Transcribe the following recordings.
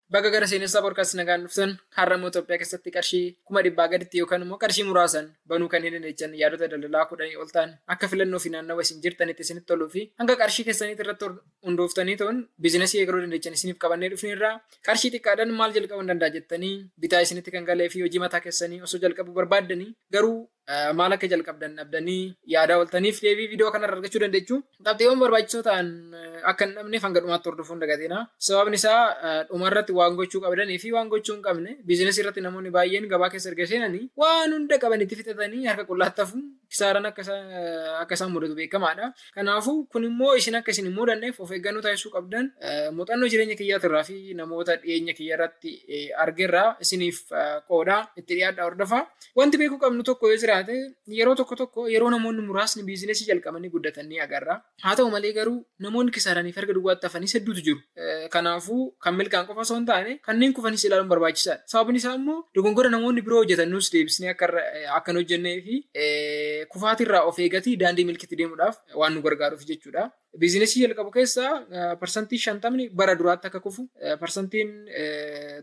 Baga gara Seenessaa Podcast nagaan dhuftan. Har'a immoo Itoophiyaa keessatti qarshii kuma dhibbaa gaditti yookaan immoo qarshii muraasaan banuu kan hin dandeechan yaadota daldalaa kudhanii ol ta'an akka filannoo fi naannawa isin jirtanitti isinitti toluu fi hanga qarshii keessaniitti irratti hundooftanii ta'uun biizinasii eegaluu dandeechan isiniif qabannee dhufneerra. Qarshii xiqqaadhaan maal jalqabuun danda'a jettanii bitaa isinitti kan galee fi hojii mataa keessanii osoo jalqabuu barbaaddanii garuu maal akka jalqabdan dhabdanii yaadaa oltaniif deebii viidiyoo kanarra argachuu dandeechu. Qabxiiwwan barbaachisoo ta'an akka hin dhabneef hanga dhumaatti hordofuun dagatina. Sababni isaa dhumarratti waan gochuu qabdanii fi waan gochuu hin qabne biizinasii irratti namoonni baay'een gabaa keessa erga seenanii waan hunda qaban itti fixatanii harka qullaatti hafu kisaaran akka isaan mudatu beekamaadha. Kanaafuu, kun immoo isin akka isin hin mudanneef of eeggannoo taasisuu qabdan muuxannoo jireenya kiyyaatirraa fi namoota dhiyeenya kiyyarratti argerraa isiniif qooda. Itti dhiyaadhaa hordofaa. Wanti beekuu qabnu tokko yoo jiraate yeroo tokko tokko yeroo namoonni muraasni biizinesii jalqabanii guddatan ni agarra. Haa ta'u malee garuu namoonni kisaaranii fi harka duwwaatti hafanis hedduutu jiru. Kanaafuu kan milkaan qofa osoo hin taane kanneen kufanis ilaaluun barbaachisaadha. Sababni isaa immoo dogongora namoonni biroo hojjetan nus deebisnee akka hin hojjennee fi kufaatirraa of eegatii daandii milkitti deemuudhaaf waan nu gargaaruuf jechuudha. Biizinesii jalqabu keessaa parsantii shantamni bara duraatti akka kufu parsantiin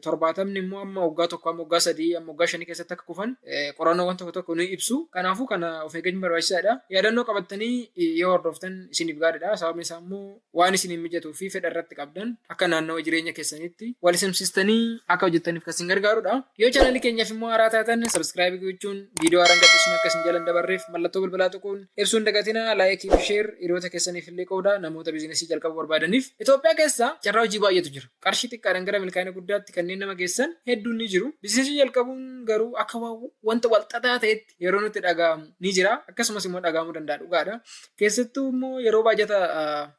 torbaatamni immoo amma waggaa tokko amma waggaa sadii amma waggaa shanii keessatti akka kufan qorannoowwan tokko tokko ni ibsu. Kanaafuu kana of eeggachuun barbaachisaadha. Yaadannoo qabattanii yoo hordoftan isiniif gaariidha. Sababni isaa immoo waan isiniif mijatuu fi fedha irratti qabdan akka naannawa jireenya keessanitti wal simsistanii akka hojjettaniif kan isin gargaarudha. Yoo chaanalii keenyaaf immoo haaraa taatan sabskraayibii gochuun viidiyoo haaraan gadhiisnu akka isin jala hin dabarreef mallattoo bilbilaa tuquun ibsuu hin dagatinaa laayikii fi sheer hiriyoota keessaniif illee qoodaa namoota biizinasii jalqabuu barbaadaniif. Itoophiyaa keessa carraa hojii baay'eetu jira. Qarshii xiqqaadhaan gara milkaa'ina guddaatti kanneen nama geessan hedduun ni jiru. Biizinasii jalqabuun garuu akka waan wanta walxaxaa ta'etti yeroo nutti dhaga'amu ni jira akkasumas immoo dhaga'amuu danda'a dhugaadha. Keessattuu immoo yeroo baajata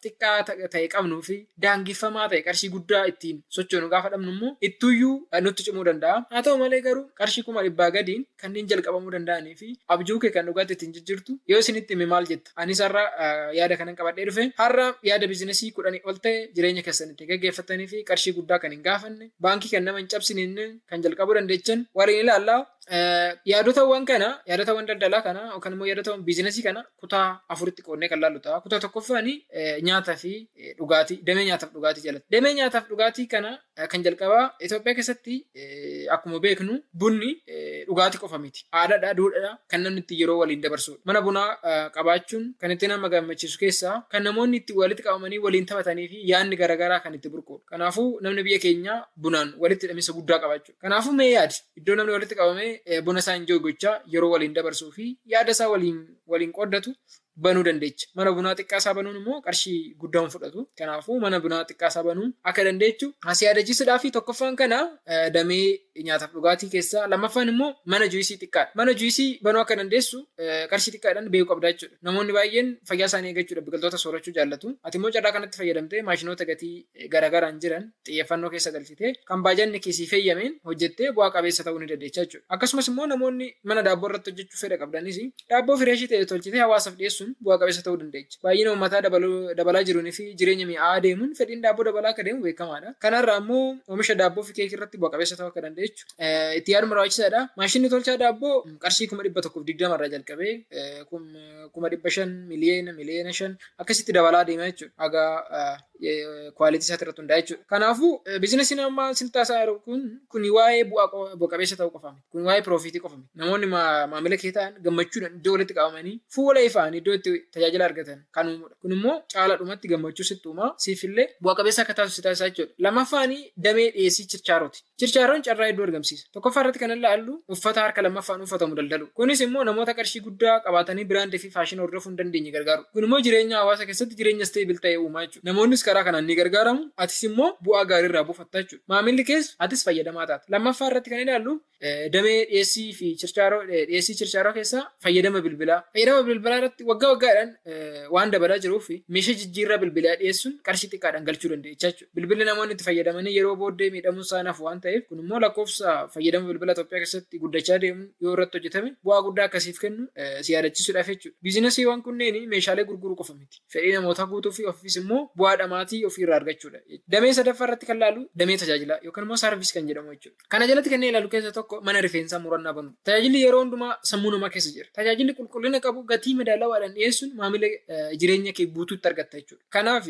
xiqqaa ta'e qabnuu fi daangeffamaa ta'e qarshii guddaa ittiin sochoonu gaafa dhabnu immoo ittuyyuu nutti cimuu danda'a. Haa ta'u malee garuu qarshii kuma dhibbaa gadiin kanneen jalqabamuu danda'anii fi abjuu kee kan dhugaatti ittiin jijjiirtu yoo isinitti hime maal jetta? Anis har'a yaada kanan qabadhee dhufe har'a yaada biizinasii kudhanii ol ta'e jireenya keessan ittiin gaggeeffattanii fi qarshii guddaa kan hin gaafanne baankii kan nama hin cabsine kan jalqabuu dandeechan waliin ilaallaa. Eh, Yaadotawwan kana, yaadotawwan daldalaa kana yookaan immoo yaadotawwan biizinasii kana kutaa afuritti qoodnee kan laallu ta'a. Kutaa tokkoffaan eh, nyaataa fi eh, dhugaatii, damee nyaataaf dhugaatii jalatti. Damee nyaataaf dhugaatii kana eh, kan jalqabaa Itoophiyaa keessatti eh, akkuma beeknu bunni eh, dhugaatii qofa miti. Aadaadha, duudhaadha kan namni itti yeroo waliin dabarsudha. Mana bunaa eh, qabaachuun kan itti nama gammachiisu keessaa kan namoonni itti walitti qabamanii waliin taphatanii fi yaadni garaagaraa kan itti burqudha. Kanaafuu namni biyya keenyaa bunaan walitti hidhamiinsa guddaa qaba jechuudha. Kanaafuu mee yaadi, iddoo namni walitti qabamee buna isaa injooy gochaa yeroo waliin dabarsuu fi yaada isaa waliin waliin qooddatu banuu dandeecha. Mana bunaa xiqqaa isaa banuun immoo qarshii guddaa hin fudhatu. Kanaafuu mana bunaa xiqqaa isaa banuu akka dandeechu si yaadachiisudha fi tokkoffaan kana damee nyaataaf dhugaatii keessaa lammaffaan immoo mana juisii xiqqaa mana juisii banuu akka dandeessu qarshii xiqqaadhaan beekuu qabdaa jechuudha. Namoonni baay'een fayyaa isaanii eegachuudhaaf biqiltoota soorachuu jaallatu. Ati immoo carraa kanatti fayyadamtee maashinoota gatii garagaraan jiran xiyyeeffannoo keessa galchitee kan baajanni kee siif heyyameen hojjettee bu'aa qabeessa ta'uu ni dandeecha jechuudha. Akkasumas immoo namoonni mana daabboo irratti hojjechuu fedha qabdanis daabboo fireeshii ta'e tolchitee hawaasaaf dhiyeessuun bu'aa qabeessa ta'uu dandeecha. Baay'ina uummataa dabalaa jiruun fi jireenya mi'aa'aa deemuun fedhiin daabboo dabalaa akka deemu beekamaadha. Kanarraa immoo oomisha daabboo fi keekii irratti bu'a qabeessa ta'uu akka dandeechu itti yaaduun barbaachisaadha. Maashinni tolchaa daabboo qarshii kuma dhibba tokkoof digdama irraa jalqabee kuma dhibba shan miliyeena miliyeena shan akkasitti dabalaa deema jechuudha. Haga kwaalitii isaati irratti hundaa'e jechuudha. Kanaafuu biizinasiin amma isin taasaa jiru kun kun waa'ee bu'aa bu'a qabeessa ta'uu qofa miti. Kun waa'ee piroofiitii qofa miti. Namoonni maamila kee ta'an gammachuudhaan iddoo walitti qabamanii fuula ifaan iddoo itti tajaajila argatan kan uumudha. Kun immoo caalaadhumatti gammachuu sitti uumaa siifillee bu'a qabeessa akka taasisu si taasisaa jechuudha. Lammaffaan damee dhiyeessii chirchaarooti. Chirchaaroon carraa hedduu argamsiisa. Tokkoffaa irratti kan ilaallu uffata harka lammaffaan uffatamu daldaluu. Kunis immoo namoota qarshii guddaa qabaatanii biraandii fi faashina hordofuu hin dandeenye gargaaruu. Kun immoo jireenya hawaasa keessatti jireenya stable ta'e uumaa jechuudha. Namoonnis karaa kanaan ni gargaaramu, atis immoo bu'aa gaarii irraa buufatta jechuudha. Maamilli kees atis fayyadamaa taata. Lammaffaa irratti kan ilaallu damee dhiyeessii fi chirchaaroo dhiyeessii chirchaaroo keessaa fayyadama bilbilaa. Fayyadama bilbilaa irratti waggaa waggaadhaan waan dabalaa jiruu fi meeshaa jijjiirraa bilbilaa dhiyeessuun qarshii xiqqaadhaan galchuu dandeecha jechuudha. Bilbilli namoonni itti fayyadamanii yeroo booddee miidhamuun isaa hin hafu waan ta'eef kun immoo lakkoofsa fayyadama bilbila Itoophiyaa keessatti guddachaa deemu yoo irratti hojjetame bu'aa guddaa akka siif kennu si yaadachiisuudhaaf jechuudha. Biizinasiiwwan kunneen meeshaalee gurguruu qofa miti. Fedhii namootaa guutuu fi ofiifis immoo bu'aa dhamaatii ofii irraa argachuudha. Damee sadaffaa irratti kan laalu damee tajaajilaa yookaan immoo saarviis kan jedhamu jechuudha. Kana jalatti kanneen ilaalu keessa tokko mana rifeensaa murannaa banuudha. Tajaajilli yeroo hundumaa sammuu namaa keessa jira. Tajaajilli qulqullina qabu gatii madaalawaadhaan dhiyeessuun maamila jireenya kee guutuu itti argatta jechuudha. Kanaaf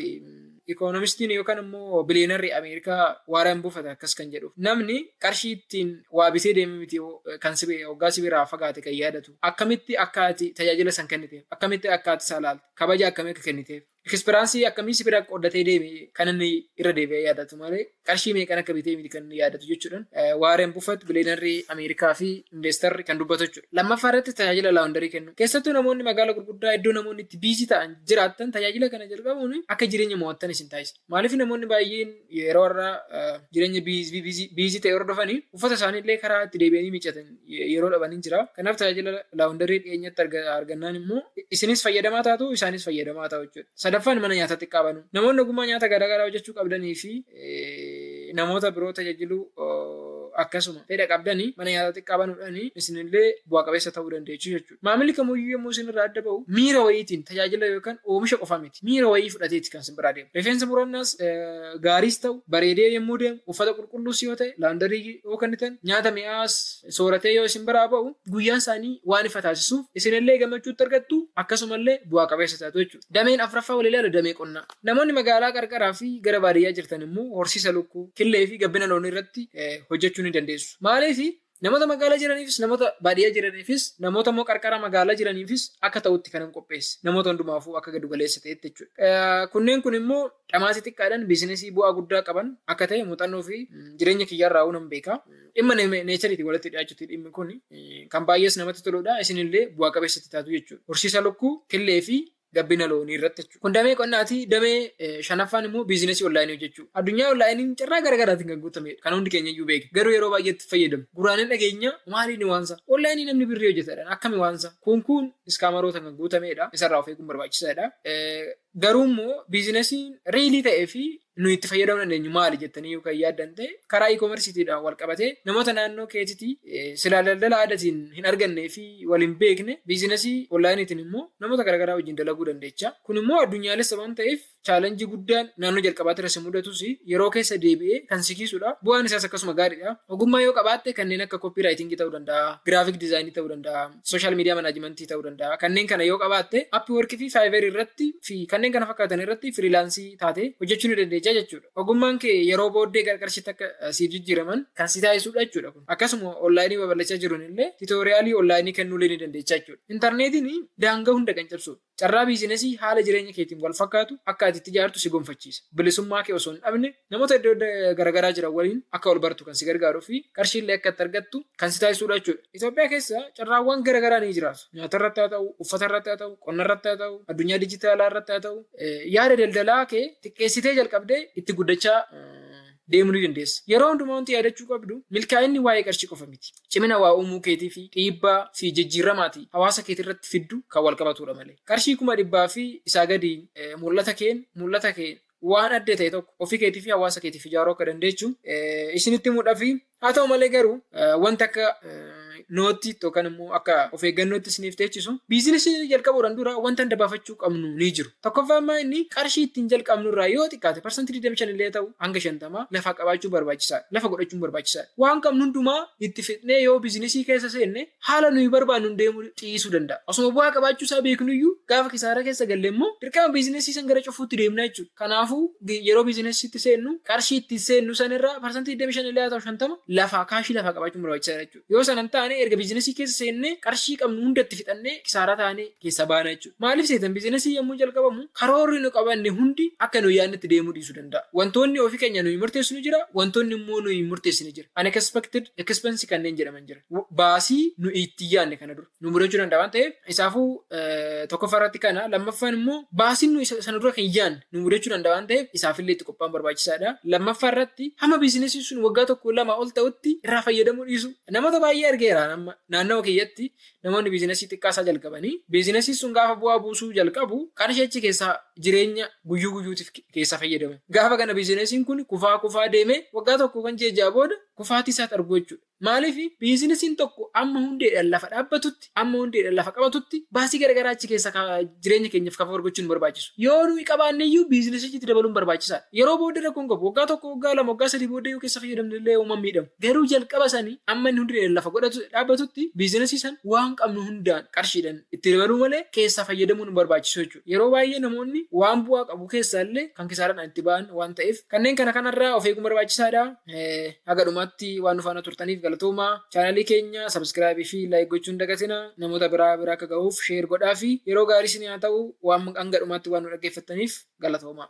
Ikoonomistiin yookaan immoo biliyeenarri Ameerikaa Waareen Buufata akkas kan jedhuuf namni qarshii ittiin waa bitee deemee miti kan sibe hoggaa sibiraa fagaate kan yaadatu akkamitti akka ati tajaajila san kenniteef akkamitti akka ati isaa laalte kabaja akkamii akka kenniteef ikisperaansii akkamii sibira qooddatee deeme kan inni irra deebi'ee yaadatu malee qarshii meeqan akka bitee miti kan inni yaadatu jechuudhaan Waareen Buffett bileenarrii Ameerikaa fi investarri kan dubbatu jechuudha. Lammaffaa irratti tajaajila laawundarii kennu. Keessattuu namoonni magaala gurguddaa iddoo namoonni itti biizii ta'an jiraattan tajaajila kana jalqabuun akka jireenya mo'attan isin taasisa. Maaliif namoonni baay'een yeroo irraa jireenya biizii ta'e hordofanii uffata isaanii illee karaa itti deebi'anii miiccatan yeroo dhaban hin jira. Kanaaf tajaajila laawundarii dhiyeenyatti argannaan immoo isinis fayyadamaa taatu isaanis fayyadamaa ta'u jechuudha. Sadaffaan mana nyaataa xiqqaa banuu. Namoonni ogummaa nyaata garaagaraa hojjechuu qabdanii fi namoota biroo tajaajiluu akkasuma fedha qabdanii mana nyaataa xiqqaa banuudhaan isinillee bu'a qabeessa ta'uu dandeessu jechuudha. Maamilli kamuyyuu yommuu isin irraa adda ba'u miira wayiitiin tajaajila yookaan oomisha qofa miti. Miira wayii fudhateeti kan isin biraa deemu. Rifeensa murannaas gaariis ta'u bareedee yommuu deemu, uffata qulqulluus yoo ta'e, laawundarii yoo kennitan, nyaata mi'aawaas sooratee yoo isin biraa ba'u guyyaan isaanii waan ifa taasisuuf isinillee gammachuutti argattu akkasumallee bu'aa qabeessa taatu jechuudha. Dameen afraffaa wal ilaalu damee qonnaa. Namoonni magaalaa qarqaraa fi gara baadiyyaa jirtan immoo horsiisa lukkuu, killee fi gabbina loonii irratti hojjechuu ni dandeessu. Maaliif? Namoota magaalaa jiraniifis, namoota baadiyyaa jiraniifis, namoota immoo qarqara magaalaa jiraniifis akka ta'utti kanan qopheesse. Namoota hundumaafuu akka giddu galeessa ta'etti jechuudha. Kunneen kun immoo dhamaasii xiqqaadhaan biizinesii bu'aa guddaa qaban akka ta'e muuxannoo fi jireenya kiyyaarraa'uu nan beeka. Dhimma neechariitiin walitti dhiyaachuuti dhimmi kun kan baay'ees namatti toludha. Isinillee bu'aa qabeessatti taatu jechuudha. Horsiisa lukkuu, killee fi gabbina loonii irratti jechuudha. Kun damee qonnaati. Damee eh, shanaffaan immoo biizinasii onlaayinii hojjechuu. Addunyaa onlaayiniin carraa gara garaatiin kan guutamedha. Kan hundi keenya iyyuu beekna. Garuu yeroo baay'eetti fayyadamu. Guraanin dhageenya maaliin waansa? Onlaayinii namni birrii hojjetadhaan akkami waansa? Kun kun iskaamarootaan kan guutamedha. Isarraa of eeguun barbaachisaadha. Eh, Garuu immoo biizinasiin riilii ta'ee fi nu itti fayyadamuu dandeenyu maali jettanii yoo kan yaaddan ta'e karaa e-commerceetiidhaan wal qabatee namoota naannoo keetitii silaa daldala aadaatiin hin argannee fi wal hin beekne biizinasii onlaayiniitiin immoo namoota garaagaraa wajjin dalaguu dandeecha. Kun immoo addunyaalessa waan ta'eef chaalenjii guddaan naannoo jalqabaatti irra si mudatus yeroo keessa deebi'ee kan si kiisudha. Bu'aan isaas akkasuma gaariidha. Ogummaa yoo qabaatte kanneen akka koppii raayitingii ta'uu danda'a, giraafiik diizaayinii ta'uu danda'a. social media management ta'uu danda'a. Kanneen kana yoo qabaatte Upwork fi Fiverr irratti fi kanneen kana fakkaatan irratti firiilaansii taatee hojjechuu ni dandeessa jechuudha. Ogummaan kee yeroo booddee gara qarshiitti akka eh, siif jijjiiraman kan si taasisudha jechuudha kun. Akkasuma onlaayinii babal'achaa jiruun illee tiitooriyaalii onlaayinii kennuulee ni dandeessa jechuudha. Intarneetiin daangaa hunda kan cabsudha. Carraa biizinasii haala jireenya keetiin wal fakkaatu akka ati itti ijaartu si gonfachiisa. Bilisummaa kee osoo hin dhabne namoota iddoo garagaraa jiran waliin akka wal bartu kan si gargaaruu fi qarshii illee akka itti argattu kan si taasisuu dha jechuu dha. Itoophiyaa keessa carraawwan garagaraa ni jiraatu. Nyaata irratti haa ta'u, uffata irratti haa ta'u, qonna irratti haa ta'u, addunyaa dijitaalaa irratti haa ta'u, yaada daldalaa kee xiqqeessitee jalqabdee itti guddachaa deemuu ni dandeessa. Yeroo hundumaa wanti yaadachuu qabdu milkaa'inni waa'ee qarshii qofa miti. cimina waa uumuu keetii fi dhiibbaa fi jijjiirrama ati hawaasa keetirratti fiddu kan wal qabatuudha malee. Qarshii kuma dhibbaa fi isaa gadiin mul'ata keen mul'ata keen waan adda ta'e tokko ofii keetii fi hawaasa keetiif ijaaruu akka dandeechu isinitti himuudhafi. Haa ta'u malee garuu wanta akka nootti yookaan immoo akka of eeggannootti isiniif teechisu biizinasii jalqabuudhaan dura wanta adda baafachuu qabnu ni jiru. Tokkoffaa ammaa inni qarshii ittiin jalqabnu irraa yoo xiqqaate parsantii 25 illee haa ta'u hanga 50 lafaa qabaachuun barbaachisaadha. Lafa godhachuun barbaachisaadha. Waan qabnu hundumaa itti fixnee yoo bizinesii keessa seenne haala nuyi barbaannuun deemuu dhiisuu danda'a. Osuma bu'aa qabaachuu isaa beeknuyyuu gaafa kisaaraa keessa galle immoo dirqama bizinesii san gara cufuutti deemna jechuudha. Kanaafuu yeroo bizinesiitti seennu qarshii ittiin seennu san irraa parsantii 25 illee haa ta'u 50 lafaa kaashii lafaa qabaachuun barbaachisaadha jechuudha. Yoo sana hin taane erga biizinasii keessa seennee qarshii qabnu hunda itti fixannee kisaaraa taanee keessaa baana jechuudha. Maaliif seetan biizinasii yommuu jalqabamu karoorri nu qabanne hundi akka nuyi yaadnetti deemuu dhiisuu danda'a. Wantoonni ofii keenya nuyi murteessinu jira, wantoonni immoo nuyi hin murteessine jira. Unexpected expense kanneen jedhaman jira. Baasii nuyi itti hin yaadne kana dura. nu mudachuu danda'a waan ta'eef isaafuu tokkoffaa irratti kana lammaffaan immoo baasiin nu isa sana dura kan yaadne nu mudachuu danda'a waan ta'eef isaafillee itti qophaa'uun barbaachisaadha. Lammaffaa irratti hamma biizinesiin sun waggaa tokko lama ol ta'utti irraa fayyadamuu dhiisu. Namoota baay'ee argeera amma naannawa kiyyatti namoonni biizinesii xiqqaasaa jalqabanii biizinesiin sun gaafa bu'aa buusuu jalqabu qarshii achi keessaa jireenya guyyuu guyyuutiif keessaa fayyadamu. Gaafa kana biizinesiin kun kufaa kufaa deemee waggaa tokko kan ji'a ja'a booda kufaatii isaatti argu jechuudha. Maaliif biizinisiin tokko amma hundeedhaan lafa dhaabbatutti, amma hundeedhaan lafa qabatutti baasii garagaraa achi keessa jireenya keenyaaf kaffar gochuun barbaachisu. Yoo nuyi qabaanne iyyuu biizinisichi itti dabaluun barbaachisaadha. Yeroo booddee rakkoon qabu. Waggaa tokko, waggaa lama, waggaa sadii booddee yoo keessa fayyadamne illee homaa hin miidhamu. Garuu jalqaba sani amma inni hundeedhaan lafa godhatu dhaabbatutti biizinisii san waan qabnu hundaan qarshiidhaan itti dabaluu malee keessaa fayyadamuun hin barbaachisu jechuudha. Yeroo baay'ee namoonni waan bu'aa qabu keessaallee kan kisaaraadhaan itti ba'an waan ta'eef kanneen kana kanarraa of eeguun barbaachisaadha. Haga dhumaatti waan nu faana turtaniif galatoomaa. Chaanaalii keenya subscribe fi like gochuu hin dagatina. Namoota biraa bira akka gahuuf share godhaafi. Yeroo gaarii isinii haa ta'u. Waan hanga dhumaatti waan nu dhaggeeffattaniif galatoomaa.